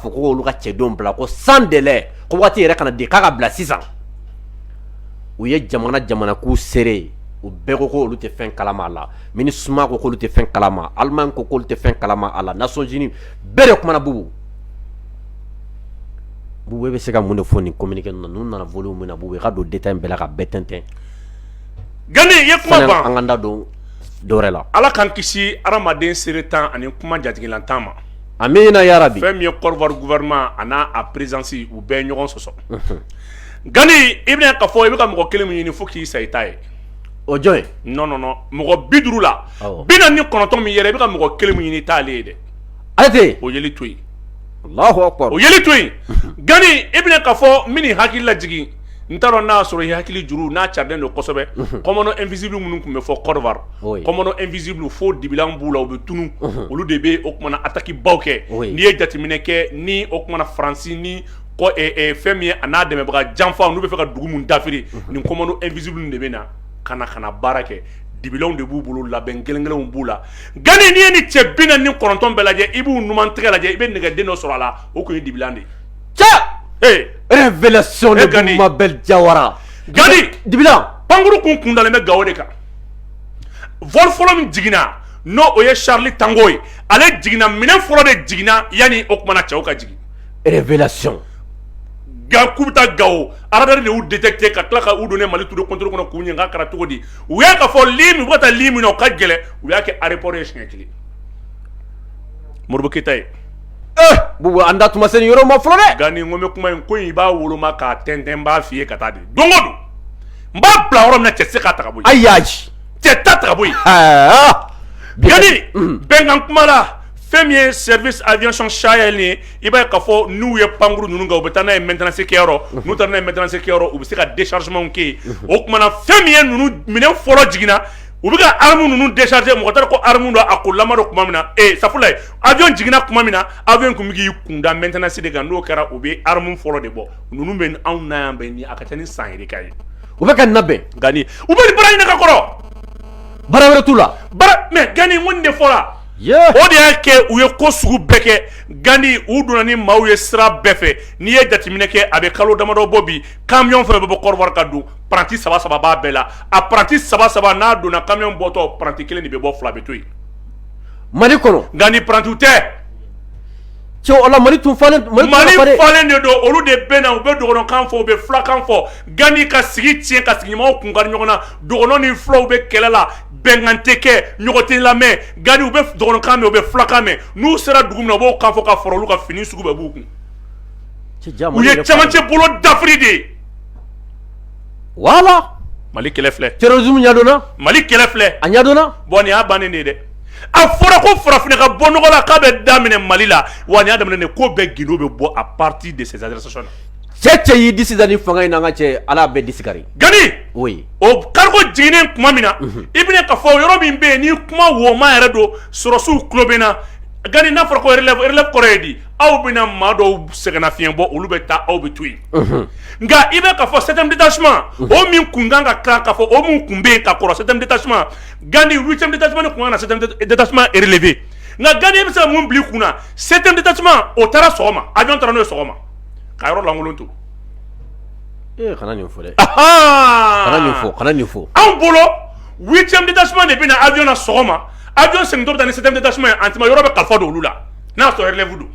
Fo ko olu ka cɛdenw bila ko sans délai ko waati yɛrɛ kana di k'a ka bila sisan u ye jamana jamana k'u seere u bɛɛ ko ko olu tɛ fɛn kalama a la Minusma ko k'olu tɛ fɛn kalama Allemagne ko k'olu tɛ fɛn kalama a la Nations Unies bɛɛ de kumana Bubu Bubu e bɛ se ka mun de fɔ nin communiqué ninnu na ninnu nana volume min na Bubu i ka don détail bɛɛ la ka bɛɛ tɛntɛn Gani i ye kuma ban sanni an k'an da don dɔwɛrɛ la Ala k'an kisi hadamaden seretan ani kuma jatigilantan ma A min yɛrɛ bi fɛn min ye kɔrɔfɔfɔma ani n'a a perezsi u bɛɛ ɲɔgɔn sɔsɔ nkaani i bɛna ka fɔ i bɛ ka mɔgɔ kelen min ɲini fo k'i sa i ta ye o jɔn ye n nɔɔnɔ mɔgɔ bi duuru la bi ni kɔnɔntɔn min yɛrɛ i bɛ ka mɔgɔ kelen min ɲini t'ale ye dɛ ase o to o to nkaani e bɛna ka fɔ min hakili laj n t'a dɔn n'a sɔrɔ i hakili juru n'a carilen don kosɛbɛ commando invisible minnu tun bɛ fɔ Côte d'Ivoire commando invisible fo dibilan b'u la u bɛ tunun olu de bɛ o kumana attaque baw kɛ n'i ye jateminɛ kɛ ni o kumana faransi ni fɛn min ye a n'a dɛmɛbaga janfa n'u bɛ fɛ ka dugu min dafiri nin commando invisible de bɛ na ka na ka baara kɛ dibilanw de b'u bolo labɛn gɛlɛn gɛlɛnw b'u la Gani n'i ye ni cɛ bi naani ni kɔnɔntɔn bɛɛ lajɛ i b'u numan tɛgɛ lajɛ i bɛ nɛgɛ den dɔ sɔrɔ a la o tun ye dibilan de ye Révélation de Mabel Jawara Gani dibilan pankuru kun kundalen bɛ gawo de kan vol fɔlɔ min jiginna n' o ye Charlie Tango ye ale jiginna minɛn fɔlɔ de jiginna yanni o kumana cɛw ka jigin révélation k'u bɛ taa gawo radar de y'u détecté ka tila ka u donner mali tour de contrôle kɔnɔ k'u ɲininka kɛra cogo di u y'a ka fɔ ligne u bɛ ka taa ligne min na o ka gɛlɛn u y'a kɛ aéroport ye siɲɛ kelen Modibo Keyita ye an da tun ma se yɔrɔ ma fɔlɔ dɛ Gani n ko n bɛ kuma in ko i b'a woloma k'a tɛntɛn n b'a fɔ i ye ka taa de don o don n b'a bila yɔrɔ min cɛ tɛ se k'a ta ka bɔ yen ayi cɛ t'a ta ka bɔ yen Gani bɛnkan kuma la fɛn min ye service aviation sahel ye i b'a ye k'a fɔ n'u ye pankuru ninnu kan u bɛ taa n'a ye maintenance kɛyɔrɔ n'u taara n'a ye maintenance kɛyɔrɔ u bɛ se ka déchargement kɛ yen o tuma na fɛn min ye ninnu minɛn fɔlɔ jiginna u bɛ ka armes ninnu décharger mɔgɔ t'a dɔn ko armes don a kolama don tuma min na ee safurulayi avion jiginna tuma min na avion in tun bɛ k'i kunda maintenance de kan n'o kɛra u bɛ arme fɔlɔ de bɔ ninnu bɛ anw na yan bɛ ni a ka ca ni san yirika ye u bɛ ka nin labɛn Gani u bɛ nin baara ɲini ka kɔrɔ baara wɛrɛ t'u la baara mais gani n ko nin de fɔra o de y'a kɛ u ye ko sugu bɛɛ kɛ gandi u donna ni maaw ye sira bɛɛ fɛ n'i ye jateminɛ kɛ a bɛ kalo damadɔ bɔ bi kamiyɔn fɛn bɛ bɔ Côte d'Ivoire ka don paranti saba saba b'a bɛɛ la a paranti saba saba n'a donna kamiyɔn bɔtɔ paranti kelen de bɛ bɔ fila bɛ to yen mali kɔnɔ gani parantiw tɛ cɛ mali falen de don olu de bɛ na u bɛ dɔgɔnɔkan fɔ u bɛ fulakan fɔ gani ka sigi tiɲɛ ka sigiɲɔgɔnw kun kari ɲɔgɔn na dɔgɔnɔ ni fulaw bɛ kɛlɛ la bɛnkan tɛ kɛ ɲɔgɔn tɛ lamɛn gani u bɛ dɔgɔnɔkan mɛn u bɛ fulakan mɛn n'u sera dugu min na u b'o kan fɔ k'a fɔra olu ka fini sugu bɛɛ b'u kun u ye camancɛ bolo dafiri de ye wala mali kɛlɛ filɛ terrorisme ɲɛdɔnna mali kɛlɛ filɛ a ɲɛdɔnna bon nin y'a bannen de ye dɛ a fɔra ko farafinna ka bɔ nɔgɔ la k'a bɛ daminɛ mali la wa nin y'a daminɛ de ko bɛɛ gindo bɛ bɔ à partir de ces arrestations là cɛ cɛ y'i disi da nin fanga in na an ka cɛ ala b'e disi kari gani oui o cargo jiginnen tuma min na i bɛna ka fɔ yɔrɔ min bɛ yen n'i kuma woma yɛrɛ don sɔrɔsiw tulo bɛ n na gani n'a fɔra ko relève kɔrɔ ye di aw bɛna maa dɔw sɛgɛnna fiɲɛɲɛ bɔ olu bɛ taa aw bɛ to yen nka i bɛ ka fɔ sɛmdi tasuma o min kun kan ka kan ka fɔ o min kun bɛ ka kɔrɔ sɛmdi tasuma gandi wu cɛ tasuma ni kun na tasuma erelefɛ nka gandi bɛ se mun bila kun na sɛmdi tasuma o taara sɔgɔma a dɔn taara n'o sɔgɔma ka yɔrɔ lankolon to fɔ fɔ anw bolo wu cɛ tasuma de bɛna na awyna sɔgɔma a jɔn sɛto ni sɛmdi tasuma ye a yɔrɔ bɛ ka fɔ don olu la N'a y'a sɔrɔ relève don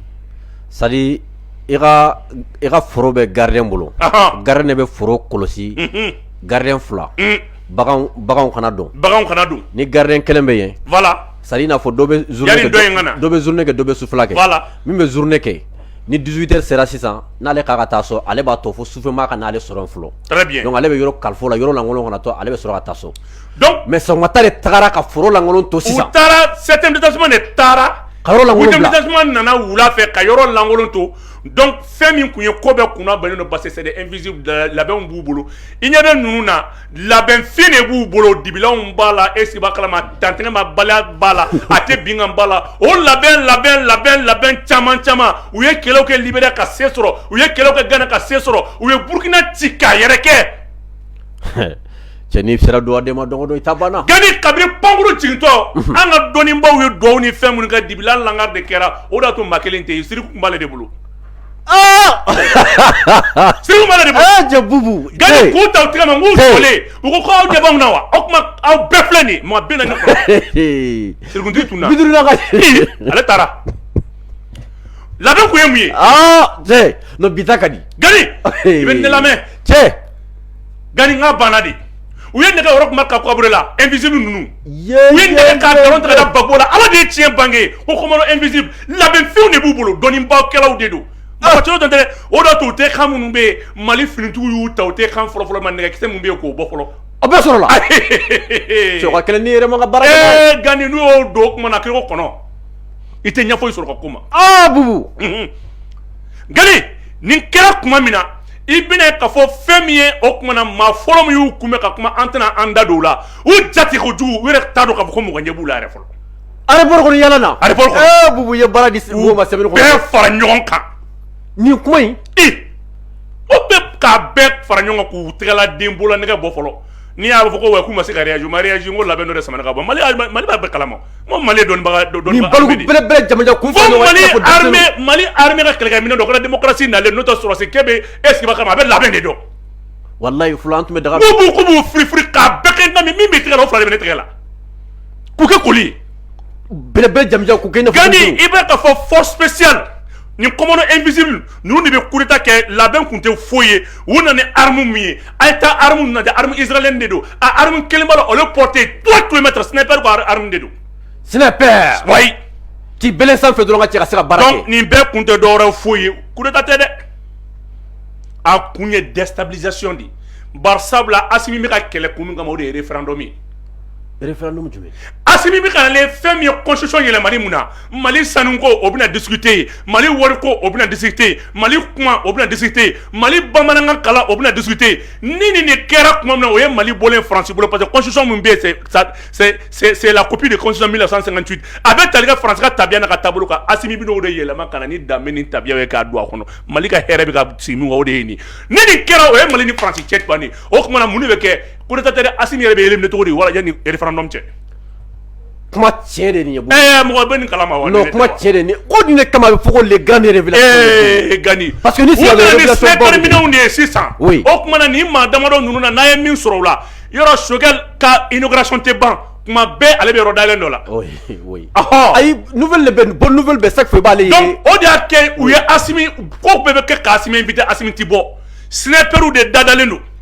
c'est à dire i ka i ka foro bɛ gardien bolo, anhan, gardien de bɛ foro kɔlɔsi, unhun, gardien 2 baganw baganw kana don, baganw kana don, ni gardien 1 bɛ yen, voila, c'est à dire i n'a fɔ dɔ bɛ journée kɛ, yani dɔ in ka na, dɔ bɛ journée kɛ dɔ bɛ sufɛla kɛ, voila, min bɛ journée kɛ ni 18 heures sera sisan n'ale k'a ka taa so ale b'a to fo sufɛmaa ka n'ale sɔrɔ yen fɔlɔ, très bien, donc ale bɛ yɔrɔ kalif'o la yɔrɔ lankolon kana to ale bɛ sɔrɔ ka taa so mais sɔgɔmata de taara ka foro lankolon to sisan u taara 7e détachement de taara 8e détachement nana wula fɛ ka yɔrɔ lankolon to donc fɛn min kun ye ko bɛɛ kun labɛnnen don parce que c'est des invisibles labɛnw b'u bolo i ɲɛ bɛ ninnu na labɛn fin de b'u bolo dibilanw b'a la est-ce qu'i b'a kalama dantɛgɛmabaliya b'a la a tɛ bin n kan b'a la o labɛn labɛn labɛn labɛn caman caman u ye kɛlɛw kɛ libéria ka se sɔrɔ u ye kɛlɛw kɛ gana ka se sɔrɔ u ye burukina ci k'a yɛrɛkɛ cɛ n'i sera dugaden ma don o don i ta banna gani kabini pankurun jigintɔ an ka dɔnnibaw ye dugawu ni fɛn minnu kɛ dibilan lankari de kɛra o de y'a to maa kelen tɛ yen sirikun kun b'ale de bolo siri bubu k'u ta tigɛ ma k'u fɔlen u ko aw jaba na wa o tuma aw bɛɛ filɛ nin mɔgɔ bɛ na sirikuntigi tun na ale taara labɛn tun ye mun ye bi ta ka di gani i bɛ ne lamɛn cɛ Gani kan banna dɛ u ye nɛgɛ Roch Marc Kaboré la invisible ninnu u ye nɛgɛ ka dɔrɔn taara Gbagbo la ala de ye tiɲɛ bange ko commando invisible labɛnfɛnw de b'u bolo dɔnnibakɛlaw de don a cogo tɛ dɛ o da tun u tɛ kan minnu bɛ yen mali finitigiw y'u ta u tɛ kan fɔlɔfɔlɔ ma nɛgɛkisɛ min bɛ yen k'o bɔ fɔlɔ a bɛ sɔrɔ kelen ni yɛrɛ bara Gani n'i y'o don o tuma na kɔnɔ i tɛ ɲɛfɔ sɔrɔ ka kuma Gani nin kɛra tuma min na i bɛna k'a fɔ fɛn min ye o kuma na maa fɔlɔ minnu kun bɛ ka kuma an tɛna an da don o la u jate ko jugu u yɛrɛ t'a dɔn k'a fɔ ko mɔgɔ ɲɛ b'u la yɛrɛ fɔlɔ aéroport kɔnɔ yan na aéroport ko Bubu ye baara di ma sɛbɛn bɛɛ fara ɲɔgɔn kan nin kuma in o bɛ ka bɛɛ fara ɲɔgɔn k'u tɛgɛla den bolo nɛgɛ bɔ fɔlɔ n'i y'a fɔ ko wa k'u ma se ka réagir ma réagir ko labɛn dɔ de samana ka bɔ mali b'a bɛɛ kalama Ko mali dɔnnibaga dɔ dɔn jamanasila ko mali hamɛ ka kɛlɛkɛ min dɔrasi nalen n'o sɔrɔsi ke bɛ e sigi kama a bɛ labɛn de dɔn walayi tun bɛ daga b' fili fili k' bɛɛ kɛ min bɛ tigɛ la fila bɛ tigɛ la k'u kɛ koli bɛɛ jaja i bɛ ka fɔ fɔsi ni kɔmɔ e misi ninnu de bɛ kuta kɛ labɛn tun tɛ foyi ye u nana ni aramu min ye a ye taa aramu na izlen de don aramu kelenba la olu pte to tun bɛ sina don sina k'i bɛ sanfɛ dɔrɔn ka cɛ sira bara nin bɛɛ kun tɛ dɔw foyi ye kuta tɛ dɛ a kun ye dɛsɛsa de ye ba sabula a min bɛ ka kɛlɛ kun kama o de ye fana dɔ min référendum jumɛn Asimi bɛ ka na ni fɛn min ye constitution yɛlɛmani mun na Mali sanu ko o bɛna discuter yen Mali wari ko o bɛna discuter yen Mali kuma o bɛna discuter yen Mali bamanankan kalan o bɛna discuter yen ni nin de kɛra tuma min na o ye Mali bɔlen ye France bolo parce que constitution min bɛ yen c'est c'est c'est la copie de constitution 1958 a bɛ tali kɛ France ka tabiya n'a ka taabolo kan Asimi bɛna o de yɛlɛma ka na ni danbe ni tabiyaw ye k'a don a kɔnɔ Mali ka hɛrɛ bɛ ka sigi min kan o de ye nin ye ni nin kɛra o ye Mali ni France cɛ bannen ye o tuma na mun de bɛ kɛ coup d'état tɛ asimi yɛrɛ bɛ éliminer cogo di wala yanni référendum cɛ kuma tiɲɛ de nin ye ɛɛ mɔgɔ bɛ nin kalama wa non kuma tiɲɛ de nin ko nin de kama a bɛ fɔ ko les grandes révélations Gani parce que nin sira révélation baw minɛnw de ye sisan oui o tuma na nin maa damadɔ ninnu na n'a ye min sɔrɔ o la yɔrɔ Choguel ka inauguration tɛ ban kuma bɛɛ ale bɛ yɔrɔ dayɛlɛn dɔ la oui oui ɔhɔ ayi nouvelle de bɛ bonne nouvelle bɛ chaque fois i b'ale ye donc o de y'a kɛ u ye asimi ko bɛɛ bɛ kɛ ka asimi invité asimi tɛ bɔ snipers de dadalen don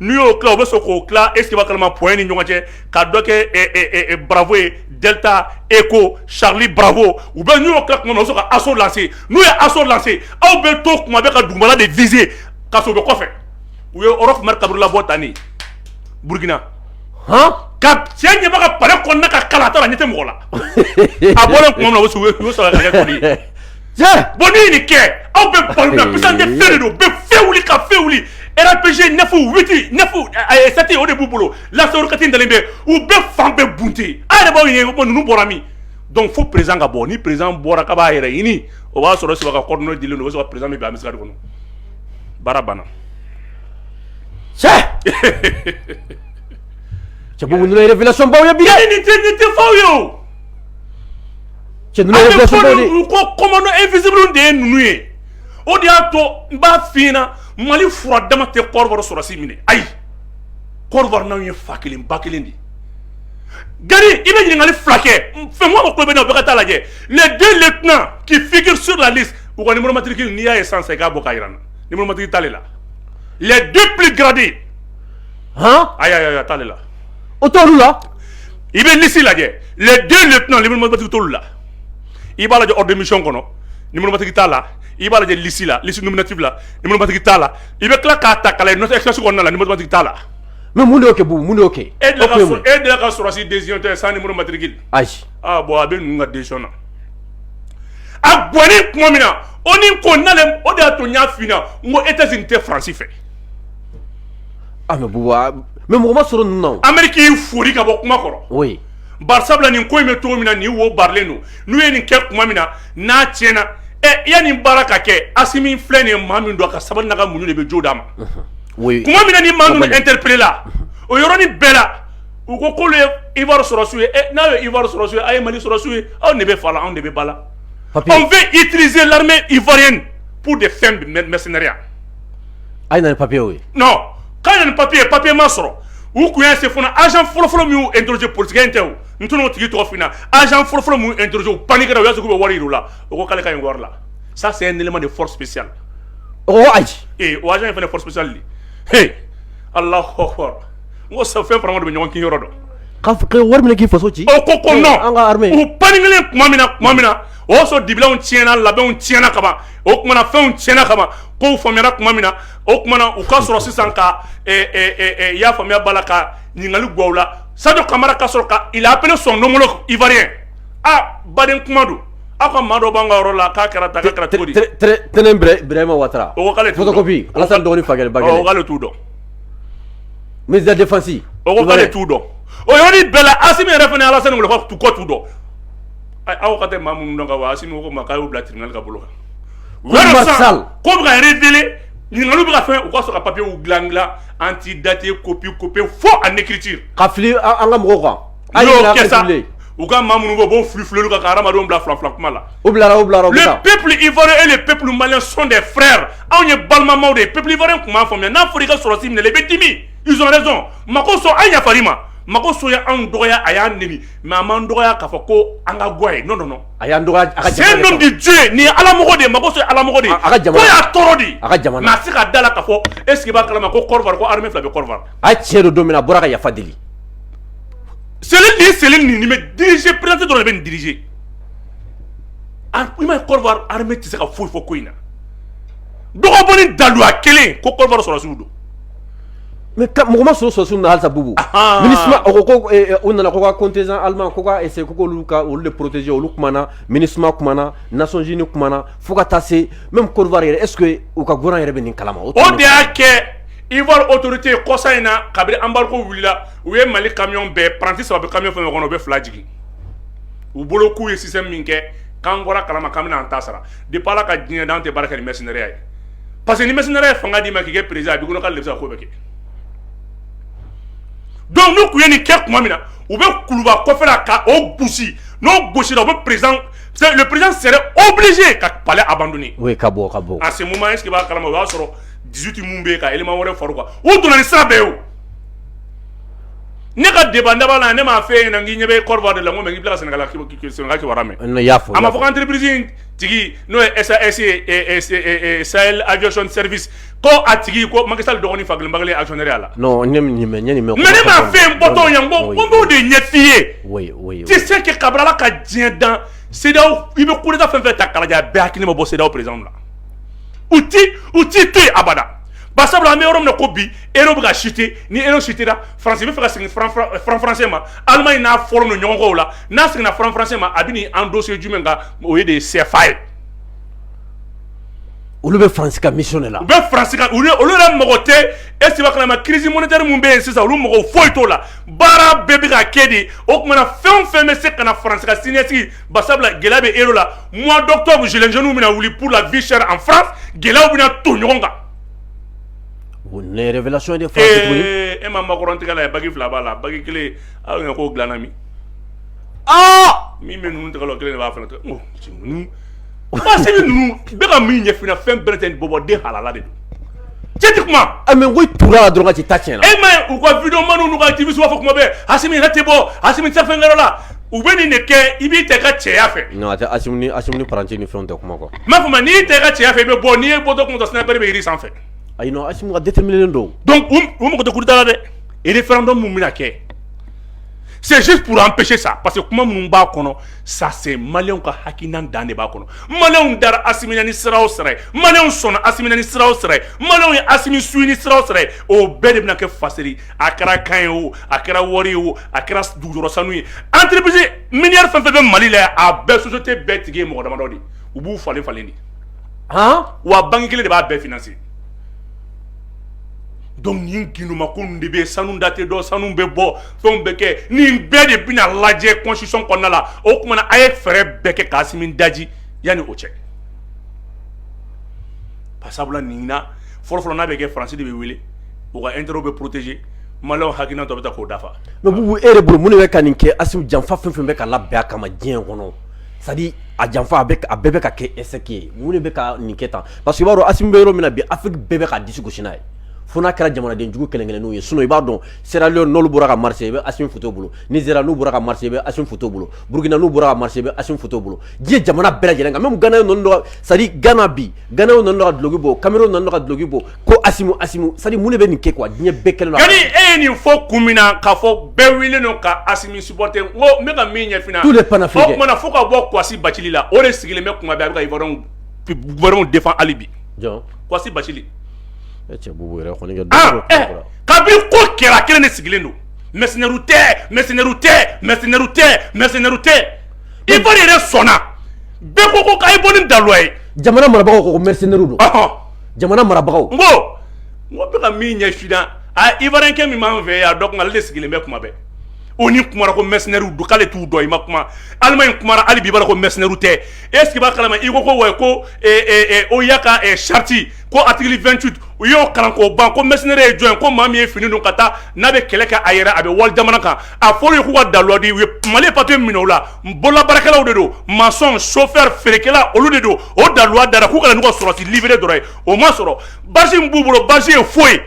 n'u y'o tila u bɛ sɔn k'o tila est ce que i b'a kalama point ni ɲɔgɔn cɛ ka dɔ kɛ bravo ye delta echo charlie bravo ou bien n'u y'o tila tuma min na u bɛ sɔn ka assaut lancer n'u ye assaut lancer aw bɛ to kuma bɛɛ ka dugumana de viser ka sɔrɔ u bɛ kɔfɛ u ye Roch Marc Kaboré labɔ tan de Burkina han ka cɛ ɲɛba ka palais kɔnɔna ka kalan a t'a dɔn a ɲɛ tɛ mɔgɔ la a bɔlen tuma min na u y'o sɔrɔ ka kɛ kɔli ye bɔn ne ye nin kɛ aw bɛ balo la puissance de feu de don bɛ fɛn wuli ka fɛn wuli rpg neuf huit neuf sept o de b'u bolo lance-roquette dalen bɛ u bɛ fan bɛɛ bunte a yɛrɛ b'aw ɲininka ko ninnu bɔra min donc fo président ka bɔ ni président bɔra ka b'a yɛrɛ ɲini o b'a sɔrɔ siba ka coordonnées dilen don o bɛ sɔrɔ ka président bɛ bila misiri kɔnɔ baara banna cɛ cɛ bɔn ninnu révélation baw ye bi dɛ nin tɛ nin tɛ faw ye o Cɛ ninnu ye révélation baw de ye. An bɛ fɔ ko commando invisible de ye ninnu ye, o de y'a to n b'a fɔ i ɲɛna Mali fura dama tɛ Côte d'Ivoire sɔrɔdasi minɛ ayi, Côte d'Ivoire n'anw ye fa kelen ba kelen de ye. Gari i bɛ ɲininkali fila kɛ Fɛnkuma mago bɛ ne na o bɛɛ ka taa a lajɛ les deux lieutenants qui figurent sur la liste u ka numéro matricule n'i y'a ye sisan i k'a bɔ k'a jira n na numéro matricule t'ale la les deux plus gradés a t'ale la o t la i bɛ nisi lajɛ le den de tɛna nimusomatigi t la i b'a lajɛ omi kɔnɔ nimusomatigi t'a la i b'a lajɛ lisi la liumuniti la nimusomatigi t'a la i bɛ tila k'a ta kala nɔtɛsi kɔnɔna nimusomatigi t'a la mɛ mun kɛ bon mun kɛ e e deli ka sɔrɔsi den tɛ san nimusomatigi ayi bɔn a bɛ ninnu ka den na a bɔn tuma min na o ni ko na o de y'a to n y'a fna n ko e tɛ tɛ faransi fɛ A mɛ mɔgɔ ma sɔrɔ ninnu Ameriki y'i fori ka bɔ kuma kɔrɔ bari sabula nin ko in bɛ cogo min na ni wo baaralen don n'u ye nin kɛ tuma min na n'a tiɲɛna ɛ yanni baara ka kɛ Asimi filɛ nin ye maa min don a ka sabali n'a ka muɲu de bɛ jo d'a ma tuma min na ni maa ninnu interpeller la o yɔrɔnin bɛɛ la u ko k'olu ye ivoire sɔrɔsi ye n'aw ye ivoire sɔrɔsi ye aw ye mali sɔrɔsi ye anw de bɛ fa la anw de bɛ ba la on veut utiliser l'armée ivoirienne pour des fins de mercenariat a ye na ni papiye ye non k'a ye ni papiye papiye ma sɔrɔ u tun y'a se fana agent fɔlɔfɔlɔ min y'u interroger politicien tɛ o n tɛn'o tigi tɔgɔ f'i ɲɛna agent fɔlɔfɔlɔ min y'u interroger u paniquera u y'a sɔrɔ k'u bɛ wari jira u la o ko k'ale ka ɲi wari la ça c'est un élément de force spéciale o ko ayi ee o agent in fana force spéciale de he Allahu akbar n ko sa fɛn fara ɲɔgɔn de bɛ ɲɔgɔn kin yɔrɔ dɔn ka f- ka wari minɛ k'i faso ci o ko ko non an ka armée u paniquelen tuma min na tuma min na o y'a sɔrɔ dibilanw tiɲɛna labɛnw tiɲɛna kaban o tumaumana fɛnw tiɲɛna kama ko faamuyayana tuma min na o tumaumana u ka sɔrɔ sisan ka y'a faamuyaya bala la ka ɲininkali gaw la sadu kamara ka sɔrɔ ka ap sɔn donkolon iri ye aa baden kuma don aw ka maa dɔ b'an ka yɔrɔ la k'a kɛra ta kɛra cogo tɛnɛnma wa dɔgɔnin fakɛ'ale t'u dɔn miztifasi t'u dɔn o yɔrɔ bɛɛ la a min yɛrɛ fana ala kɔ t'u dɔn aw ka tɛ maa minnu dɔn ka wa Asimi ko ma k'a y'u bila tribunal ka bolo kan ko bɛ ka révéler ɲininkaliw bɛ ka faire u ka sɔrɔ ka papiye u dila dila antidaté copie copie faux en écriture ka fili an ka mɔgɔw kan a y'o kɛ sa u ka ma minnu bɔ b'o fili fili kan ka hadamadenw bila fila fila kuma la u bila u bila le peuple ivoirien et le peuple malien sont des frères anw ye balimamaw de ye peuple ivoirien tun m'a faamuya n'a fɔra i ka sɔrɔsi minɛ i bɛ dimi ils ont raison Makosso an yafar'i ma Makosso ye anw dɔgɔya a y'an nɛni mɛ an man dɔgɔya k'a fɔ ko an ka ga ye n nɔ a y'an dɔgɔ di jo nin ye ala de mako sɔrɔ ala de a ka y'a tɔɔrɔ di a ka jamana a se ka da la ka fɔ e sigiba kalama ko ko hami fila bɛ a cɛ don don min a bɔra ka yafa deli seli ni seli nin bɛ diriz perete dɔrɔn de bɛ nin dirize i ma kɔrɔ hami tɛ se ka foyi fɔ ko in na dɔgɔ daluya kelen ko kɔrɔ sɔrɔsiw don mɔgɔ ma sɔrɔ sɔrɔsiw na halisa bubu ɔnhɔn Minusma a ko ko e e u nana ko ka contingent allemand ko ka essayer ko k'olu ka olu de protéger olu kumana Minusma kumana Nations Unies kumana fo ka taa se même Côte d'Ivoire yɛrɛ est ce que u ka gouvernement yɛrɛ bɛ nin kalama o de y'a kɛ Ivoire autorité kɔsa in na kabini embargo wulila u ye Mali camion bɛɛ paranti saba bɛ camion fɛn o fɛn kɔnɔ u bɛ fila jigin u bolo k'u ye système min kɛ k'an bɔra a kalama k'an bɛna an ta sara depuis Ala ka diɲɛ dan an tɛ baara kɛ ni mercenariat ye parce que ni mercenaire ye fanga d'i ma k'i kɛ président a b'a kɔnɔ k'ale sago bɛ kɛ donc n'u tun ye nin kɛ tuma min na u bɛ kuluba kɔfɛla camp o gosi n'o gosira u bɛ président le président serait obligé ka palais abandonner oui ka bɔ ka bɔ à ce moment est-ce que i b'a kalama o y'a sɔrɔ 18 minnu bɛ yen ka élément wɛrɛ far'u kan u donna ni sira bɛɛ ye o ne ka débat n dabɔ la ne m'a f'e ɲɛna n k'i ɲɛ bɛ Côte d'Ivoire de la n ko mais n k'i bɛ tila ka Sénégal Sénégal kibaruya mɛn, n y'a fɔ, a ma fɔ ko entreprise in tigi n'o ye sa esse sa ajcon serisi ko a tigi ko maka sa dɔgɔnin fa kelen bakarijan asɔn la mɛma fɛn bɔtɔ yan ko ko de ɲɛfin ye se kɛ kabila ka diɲɛ dan se i bɛ koda fɛn fɛ ta kalajɛ bɛɛ hakili ma bɔ sew perez la u u ti to yen abada ba sabula an bɛ yɔrɔ min ko bi e bɛ ka site ni e sutera farasi bɛ fɛ ka segin farafaransɛ ma ala in n'a fɔlɔ don ɲɔgɔnw la n'a seginna franc français ma a bɛ nin endosser jumɛn kan o ye de CFA ye. olu bɛ France ka mission de la. u bɛ France ka olu olu yɛrɛ mago tɛ est-ce que i b'a kalama crise monétaire min bɛ yen sisan olu mago foyi t'o la baara bɛɛ bɛ ka kɛ de o tuma na fɛn o fɛn bɛ se ka na France ka siniɲɛsigi ba sabula gɛlɛya bɛ euro la mois d'octobre gilets jaunes bɛna wuli pour la vie chère en France gɛlɛyaw bɛna ton ɲɔgɔn kan. o ye révélation ye dɛ. ee e ma Macron tigɛ lajɛ bague fila b'a la bague kelen Aw ɲɛ ko dilana min min bɛ ninnu tɔgɔ kelen de b'a fana to bɛ ka min ɲɛfin fɛn bɛɛ tɛ bɔbɔ den halala de don cɛ tɛ kuma tora dɔrɔn ci ta cɛn e ma u ka vidéomanw n'u ka activiste wa fɔ kuma bɛɛ asimi yɛrɛ tɛ bɔ asimi fɛn yɔrɔ la u bɛ nin de kɛ i b'i tɛ ka cɛya fɛ tɛ pati ni fɛn tɛ kuma kuwa m'a fɔ ma n'i tɛ ka cɛya fɛ i bɛ bɔ n'i ye bɔ dɔrɔn ko sniper bɛ jiri sanfɛ a ka déterminé don u mɔgɔ tɛ coup d'état dɛ référendum min bɛna kɛ c'est juste pour empêcher ça parce que kuma minnu b'a kɔnɔ ça c'est malienw ka hakilina dan de b'a kɔnɔ malienw dara asimi na ni sira o sira malienw sɔnna asimi na ni sira o sira malienw ye asimi suivi ni sira o sira o bɛɛ de bɛna kɛ faseri a kɛra kan ye o a kɛra wari ye o a kɛra dugujukɔrɔ sanu ye entreprise minière fɛn fɛn bɛ mali la a bɛɛ société bɛɛ tigi ye mɔgɔ damadɔ de u b'u falen falen de wa banki kelen de b'a bɛɛ financer donc nin ginduma ko de bɛ sanu date dɔ sanu bɛ bɔ fɛnw bɛ kɛ nin bɛɛ de bɛna lajɛ constitution kɔnɔna la o kuma na a ye fɛɛrɛ bɛɛ kɛ k'asimi daji yanni o cɛ pasabula nin na fɔlɔfɔlɔ n'a bɛ kɛ français de bɛ wele u ka intérêt bɛ protéger malienw hakilina dɔ bɛ ta k'o dafa mais bubu e yɛrɛ bolo mun de bɛ ka nin kɛ asimu janfa fɛn fɛn bɛ ka labɛn a kama diɲɛ kɔnɔ c'est-à-dire a janfa a a bɛɛ bɛ ka kɛ est-ce que mun de bɛ ka nin kɛ tan parce que i b'a dɔn asimi bɛ yɔrɔ min na bi afrique bɛɛ bɛ ka disi gosi n'a ye fo n'a kɛra jamanadenjugu kelen kelen n'u ye sinon i b'a dɔn sierra leone n'olu bɔra ka marcher i bɛ asimi foto bolo nigeria n'u bɔra ka marcher i bɛ asimi foto bolo burukina n'u bɔra ka marcher i bɛ asimi foto bolo diɲɛ jamana bɛɛ lajɛlen kan même gana c'est-à-dire gana bi gana dɔrɔn ka duloki bɔ cameroun dɔrɔn ka duloki bɔ ko sari mun bɛ nin kɛ kuwa diɲɛ bɛɛ kelen e ye nin fɔ kun min na ka fɔ bɛɛ wele don ka a sɔt ko ne ka min ɲɛfin tu de pan fo tuma fo ka bɔ gasi ba la o de sigilen bɛ kuma bɛ bɛw de hali bi gasi ba ka bi ko kɛra kelen de sigilen don mɛsɛnri tɛ mɛsɛnri tɛ mɛsɛnri tɛ mɛsɛnri tɛ i yɛrɛ sɔnna bɛɛ ko ko ka i bɔ ni dawa ye jamana marabagaw ko mɛsɛnri don jamana marabagaw n ko n ko bɛ ka min ɲɛfin a ivoirienkɛ min b'an fɛ yan don ale de sigilen bɛ kuma bɛɛ ONU kumara ko mercenaires don k'ale t'u dɔn i ma kuma allemagne kumara hali bi b'a la ko mercenaires tɛ est-ce que i b'a kalama i ko ko wa ko o y'a ka charte ko article vingt-huit u y'o kalan k'o ban ko mercenaire ye jɔn ye ko maa min ye fini don ka taa n'a bɛ kɛlɛ kɛ a yɛrɛ a bɛ wali jamana kan a fɔra ye k'u ka daluwa di u ye mali papier minɛ o la n bololabaarakɛlaw de don maçon chauffeur feerekɛla olu de don o daluwa dara k'u kana n'u ka sɔrɔdasi libéré dɔrɔn ye o ma sɔrɔ basi min b'u bolo basi ye foyi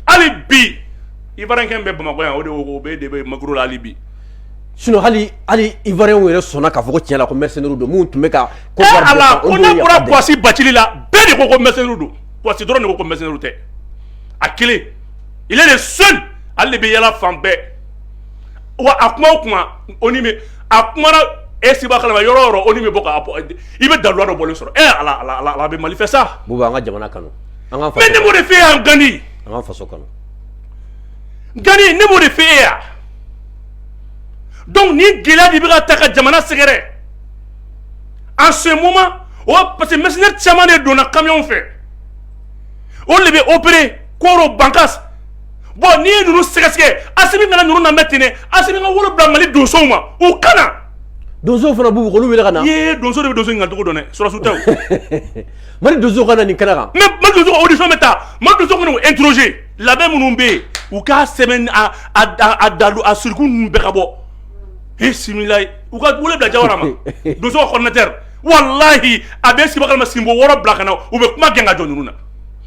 hali bi ivoirienkɛ bɛ bamakɔ yan o de o bɛ de bɛ makuru la hali bi sinon hali hali ivoirienw yɛrɛ sɔnna k'a fɔ ko tiɲɛ la ko mercenaires don minnu tun bɛ ka ko eh, ala ko n'a bɔra kwasi bacili la bɛɛ de ko ko mercenaires don kwasi dɔrɔn de ko ko mercenaires tɛ a kelen il est le seul ale de bɛ yala fan bɛɛ wa a kuma o kuma o ni bɛ a kuma na e siba kalama yɔrɔ yɔrɔ o ni bɛ bɔ ka i bɛ dalu dɔ bɔlen sɔrɔ e ala ala ala a bɛ mali fɛ sa buba an ka jamana kanu an ka mais ne b'o de fɛ yan gandi an ka faso kanu gandi ne b'o de fɛ yan donc ni gɛlɛya de bɛ ka taa ka jamana sɛgɛrɛ en ce moment o parce que mercenaires caman de donna camion fɛ olu de bɛ opérer koro bankas bɔn n'i ye ninnu sɛgɛsɛgɛ asimi kana ninnu lamɛn ten dɛ asimi ka wele bila mali donsow ma u ka na donsow fana b'u olu wele ka na ye donso de bɛ donso ɲininka cogo dɔn dɛ sɔrɔdasi tɛ mali donso ka na nin kɛnɛ kan mais mali donso ka audition bɛ taa mali donso ka n'u interroger labɛn minnu bɛ yen u k'a sɛbɛn a a a dalu a siriku ninnu bɛɛ ka bɔ bisimila u ka wele bila jawara ma donso ka coordinateur walahi a bɛ siba kalama sinbo wɔɔrɔ bila ka na u bɛ kuma gɛn ka jɔ ninnu na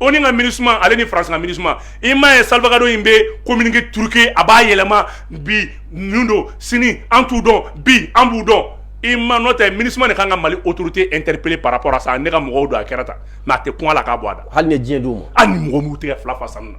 onu ka minusma ale ni france ka minusma i ma ye salgado in bɛ communiqué truqué a b'a yɛlɛma bi ninnu don sini an t'u dɔn bi an b'u dɔn i ma n'o tɛ minusma de ka kan ka mali autorité interpeller par rapport à ça ne ka mɔgɔw don a kɛra tan mais a tɛ kun a la k'a bɔ a da hali ni diɲɛ d'u ma hali ni mɔgɔw b'u tɛgɛ fila fa sanu na